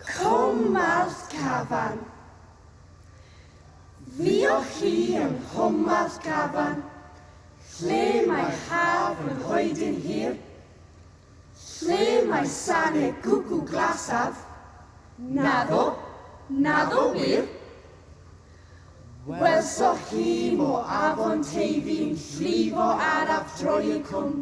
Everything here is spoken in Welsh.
Cwmwllt Cafan. Fuoch chi yng Nghwmwllt Cafan, lle mae haf yn hoedyn hir? Lle mae sane gwcw glasaf? Naddo, naddo wir. Welsoch chi mo afon Teifi'n llifo araf droi y cwm?